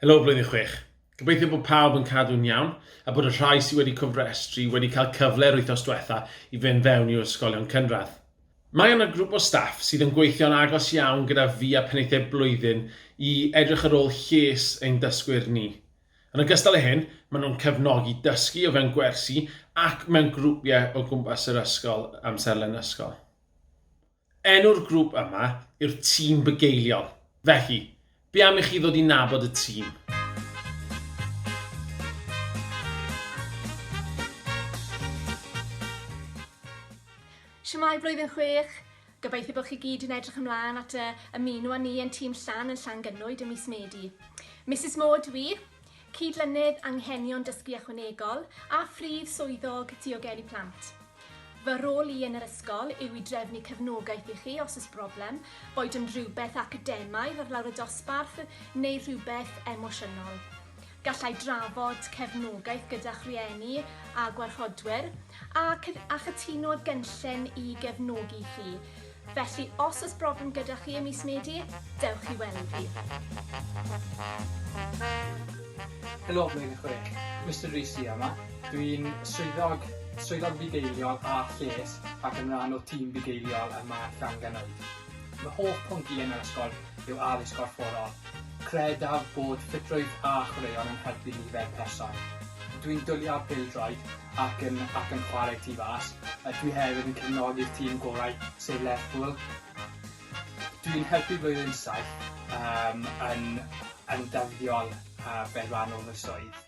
Helo Flwyddyn Chwech. Gobeithio bod pawb yn cadw'n iawn a bod y rhai sydd wedi cofrestru wedi cael cyfle'r wythnos diwetha i fynd fewn i'w ysgolion cynradd. Mae yna grŵp o staff sydd yn gweithio'n agos iawn gyda fi a Penaethiaid Blwyddyn i edrych ar ôl lles ein dysgwyr ni. Yn ogystal â hyn, maen nhw'n cefnogi dysgu o fewn gwersi ac mewn grwpiau o gwmpas yr ysgol amserlen ysgol. Enw'r grŵp yma yw'r Tîm Bugeiliol. Felly, be am i chi ddod i nabod y tîm? Shwmae Blwyddyn Chwech! Gobeithio bod chi gyd yn edrych ymlaen at y ymuno â ni yn Tîm Llan yn Llangynwyd ym mis Medi. Misus Mo dw i, Cydlynydd Anghenion Dysgu Ychwanegol a Phrif Swyddog Diogelu Plant. Fy rôl i yn yr ysgol yw i drefnu cefnogaeth i chi os oes broblem, boed yn rhywbeth academaidd ar lawr y dosbarth neu rhywbeth emosiynol. Gallai drafod cefnogaeth gyda'ch rhieni a gwarchodwyr, a a chytuno'r gynllun i gefnogi chi. Felly, os oes broblem gyda chi ym mis Medi, dewch i weld fi. Helo Blwyddyn Chwech, Mister Rees sy yma. Dw i'n swyddog, swyddog bugeiliol a lles ac yn rhan o tîm bugeiliol y mae Llan Ganoedd. Fy hoff pwnc i yn yr ysgol yw addysg gorfforol. Credaf bod ffitrwydd a chwaraeon yn helpu ni fel person. Dwi'n dwli ar bêl-droed ac yn ac yn chwarae tu fas. Dwi hefyd yn cefnogi'r tîm gorau, sef Lerpwl. Dwi'n helpu blwyddyn saith, yym, yn yn ddyddiol, fel rhan o fy swydd.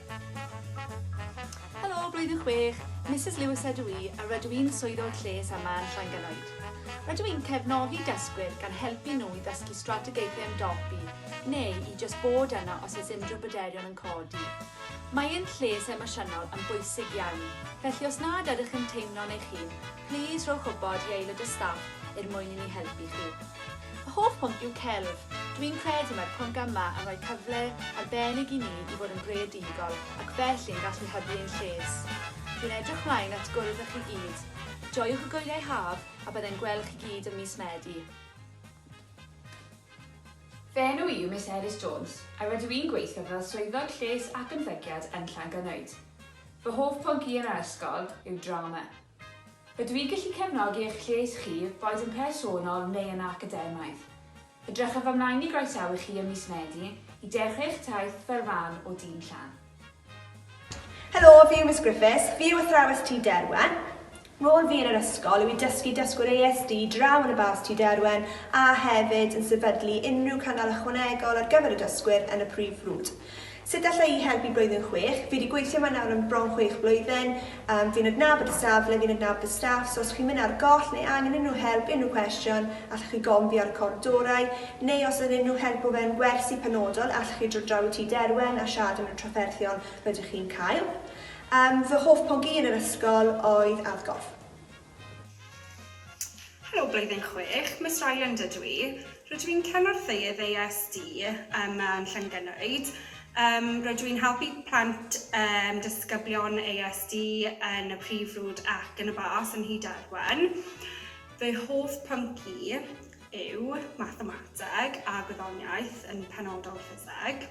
Helo, blwyddyn chwech, Misus Lewis ydw i a rydw i'n Swyddog Lles yma yn Llangelwyd. Rydw i'n cefnogi dysgwyr gan helpu nhw i ddysgu strategaethau ymdopi neu i jyst bod yna os oes unrhyw bryderon yn codi. Mae ein lles emosiynol yn bwysig iawn, felly os nad ydych yn teimlo'n eich hun, Plîs rhowch wybod i aelod o staff er mwyn i ni helpu chi. Fy hoff pwnc yw celf. Dw i'n credu mae'r pwnc yma yn rhoi cyfle arbennig i ni i fod yn greadigol ac felly yn gallu hybu ein lles. Dw i'n edrych mlaen at gwrdd â chi gyd. Joiwch y gwyliau haf a byddai'n gweld chi gyd ym mis Medi. Fy enw i yw Miss Elis Jones a rydw i'n gweithio fel Swyddog Lles ac Ymddygiad yn Llangynnoed. Fy hoff pwnc i yn yr ysgol yw drama. Ydw i'n gallu cefnogi eich lles chi, boed yn personol neu yn academaidd? Edrychaf ymlaen i groesawu chi ym mis Medi i dechrau eich taith fel rhan o dîm Llan. Helo, fi yw Miss Griffiths, fi yw athrawes Tŷ Derwen. Rôl fi yn yr ysgol yw i dysgu dysgwyr ASD draw yn y bas Tŷ Derwen a hefyd yn sefydlu unrhyw cynnal ychwanegol ar gyfer y dysgwyr yn y prif frwd. Sut alla i helpu blwyddyn chwech? Fi di gweithio yma nawr am bron chwech blwyddyn, yym fi'n adnabod y safle, fi'n adnabod y staff, so os chi'n mynd ar goll neu angen unrhyw help, unrhyw cwestiwn, allwch chi gofyn fi ar y cort dorau, neu os oedd unrhyw help o fewn gwersi penodol, allwch chi dod draw i Tŷ Derwen a siarad am y trafferthion rydych chi'n cael. Yym fy hoff pwnc i yn yr ysgol oedd adgorf. Helo blwyddyn chwech, Miss Ryland ydw i. Rydw i'n cynorthwyydd ASD ym Mân Llangynnoed. Yym rydw i'n helpu plant yym disgyblion ASD yn y Prif Frwd ac yn y Bas yn Nhŷ Derwen. Fy hoff pwnc i yw mathemateg a gwyddoniaeth, yn penodol ffiseg.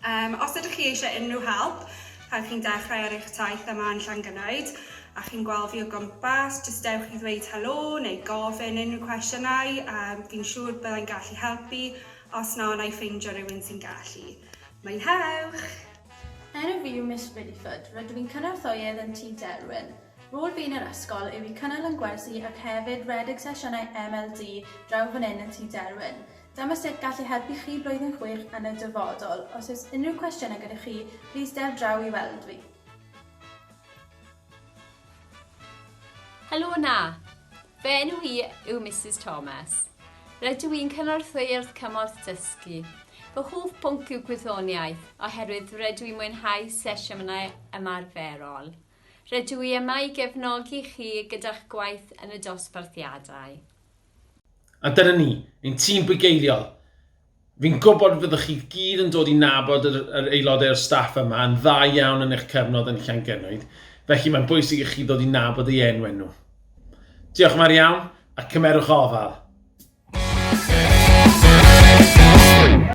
Um, os ydych chi eisiau unrhyw help pan chi'n dechrau ar eich taith yma yn Llangynaid a chi'n gweld fi o gwmpas, jyst dewch i ddweud helo neu gofyn unrhyw cwestiynau, um, fi'n siŵr byddai'n gallu helpu, os na, na i ffeindio rhywun sy'n gallu. Mwynhewch! Enw fi yw Miss Riddyford, rydw i'n cynorthwyydd yn Tŷ Derwin. Rôl fi yn yr ysgol yw i cynnal yn gwersi ac hefyd redeg sesiynau MLD draw fan hyn yn Tŷ Derwin. Dyma sut gall ei helpu chi blwyddyn chwyrch yn y dyfodol. Os oes unrhyw cwestiynau gyda chi, plîs der draw i weld fi. Helo yna! Fy enw i yw Misus Thomas. Rydw i'n cynorthwy Urdd Cymorth Dysgu. Fy hoff bwnc yw gwyddoniaeth, oherwydd rydw i'n mwynhau sesiynau ymarferol. Rydw i yma i gefnogi chi gyda'ch gwaith yn y dosbarthiadau. A dyna ni, ein tîm bugeiliol. Fi'n gwybod fyddwch chi gyd yn dod i nabod yr, yr aelodau o'r staff yma yn dda iawn yn eich cyfnod yn Llangennwyd, felly mae'n bwysig i chi ddod i nabod ei enw nhw. Diolch yn fawr iawn, a cymerwch ofal!